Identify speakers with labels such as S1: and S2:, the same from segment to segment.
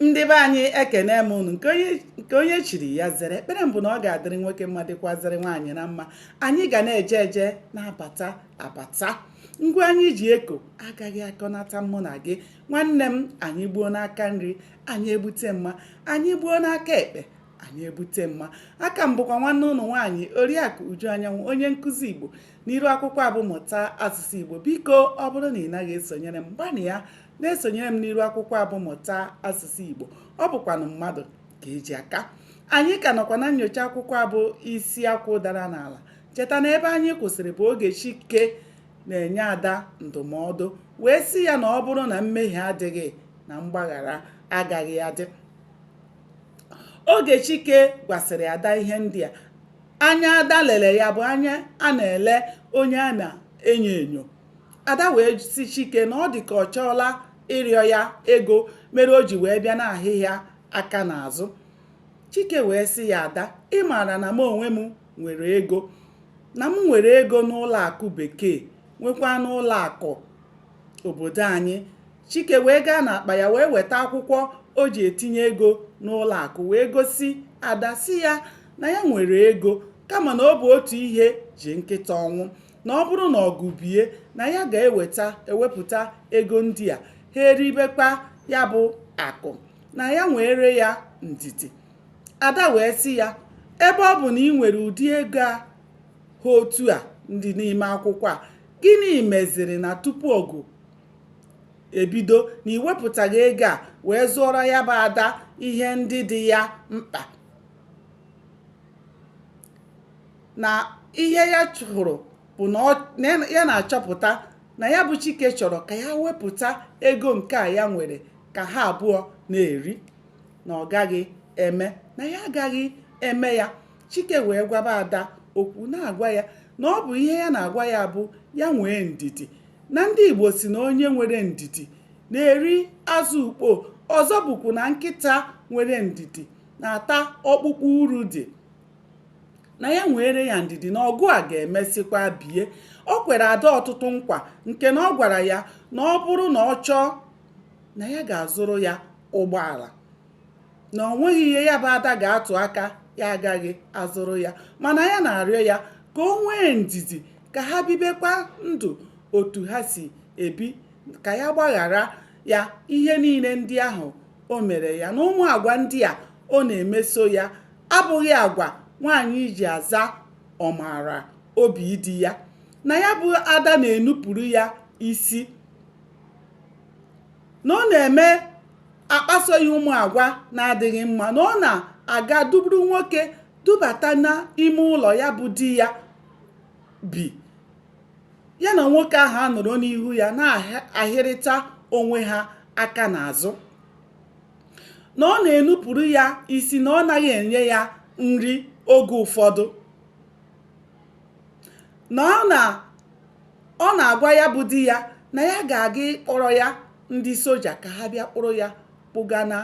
S1: ndị be anyị ekene m unu nke onye chiri ya zere ekpere m bụ na ọ ga-adịrị nwoke mma dịkwazịrị nwaanyị mma anyị ga na-eje eje na-abata abata ngwa anyị ji eko agaghị akọnata mụ na gị nwanne m anyị gbuo n'aka nri anyị ebute mma anyị gbuo n'aka ekpe anyị ebute mma a ka m bụkwa nwanne unu nwaanyị oriakụ uju anyanwụ onye nkụzi igbo n'iru akwụkwọ a bụ mụta asụsụ igbo biko ọ bụrụ na ị naghị esonyere m gbanịa na-esonyere m n'iru akwụkwọ a bụ mụta asụsụ Igbo ọ bụkwanụ mmadụ ka e ji aka anyị ka nọkwa na nyocha akwụkwọ a bụ isi akwụ dara n'ala cheta na ebe anyị kwụsịrị bụ oge Chike na-enye ada ndụmọdụ wee sị ya na ọ bụrụ na mmehie adịghị na mgbaghara agaghị adị oge Chike gwasịrị ada ihe ndị a anya ada lere ya bụ anya a na-ele onye a na-enyo enyo ada wee sị chike na ọ dị ka ọ chọọla ịrịọ ya ego mere o ji wee bịa na-ahịa ya aka n'azụ chike wee sị ya ada ị maara na m onwe m nwere ego na m nwere ego n'ụlọ akụ bekee nwekwa n'ụlọ akụ obodo anyị chike wee gaa n'akpa ya wee weta akwụkwọ o ji etinye ego n'ụlọ akụ wee gosi ada sị ya na ya nwere ego kama na ọ bụ otu ihe ji nkịta ọnwụ na ọ bụrụ na ọgụ bie na ya ga-eweta ewepụta ego ndị a ha eribekwa ya bụ akụ na ya nweere ya ndidi ada wee sị ya ebe ọ bụ na i nwere ụdị ego a ha otu a dị n'ime akwụkwọ a gịnị meziri na tupu ọgụ ebido na i wepụtaghị ego a wee zụọrọ ya bụ ada ihe ndị dị ya mkpa na ihe ya hụrụ bụ na ya na-achọpụta na ya bụ Chike chọrọ ka ya wepụta ego nke a ya nwere ka ha abụọ na-eri na ọ gaghị eme na ya agaghị eme ya Chike wee gwaba Ada okwu na-agwa ya na ọ bụ ihe ya na-agwa ya bụ ya nwee ndidi na ndị Igbo sị na onye nwere ndidi na-eri azụ ukpo ọzọ bụkwu na nkịta nwere ndidi na-ata ọkpụkpụ uru dị na ya nweere ya ndidi na ọgụ a ga-emesịkwa bie o kwere ada ọtụtụ nkwa nke na ọ gwara ya na ọ bụrụ na ọ chọọ na ya ga-azụrụ ya ụgbọala na o nweghị ihe ya bụ ada ga-atụ aka ya agaghị azụrụ ya mana ya na-arịọ ya ka o nwee ndidi ka ha bibekwa ndụ otu ha si ebi ka ya gbaghara ya ihe niile ndị ahụ o mere ya na ụmụ agwa ndị a ọ na-emeso ya abụghị agwa nwaanyị ji aza ọmara obi di ya na ya bụ ada na-enupụrụ ya isi na ọ na-eme akpaso ya ụmụ agwa na-adịghị mma na ọ na-aga duburu nwoke dubata n'ime ụlọ ya bụ di ya bi ya na nwoke ahụ anọrọ n'ihu ya na-ahịrịta onwe ha aka n'azụ na ọ na-enupụrụ ya isi na ọ naghị enye ya nri oge ụfọdụ na ọ na ọ na-agwa ya bụ di ya na ya ga-aga ịkpọrọ ya ndị soja ka ha bịa kpụrụ ya kpụga na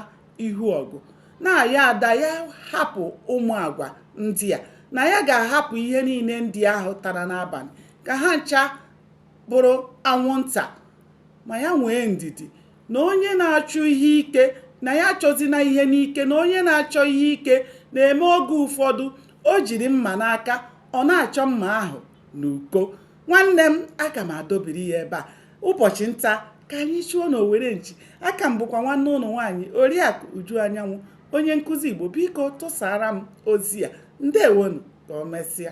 S1: ihu ọgụ na ya ada ya hapụ ụmụ agwa ndị a na ya ga-ahapụ ihe niile ndị ahụ tara n'abalị ka ha ncha bụrụ anwụnta ma ya nwee ndidi na onye na-achọ ihe ike na ya achọzina ihe n'ike na onye na-achọ ihe ike na-eme oge ụfọdụ o jiri mma n'aka ọ na-achọ mma ahụ n'uko nwanne m aga m adobiri ya ebe a ụbọchị nta ka anyị chụọ na owere nchi a ka m bụkwa nwanne unu nwaanyị oriakụ uju anyanwụ onye nkụzi igbo biko tụsara m ozi a ndewonụ ka o mesịa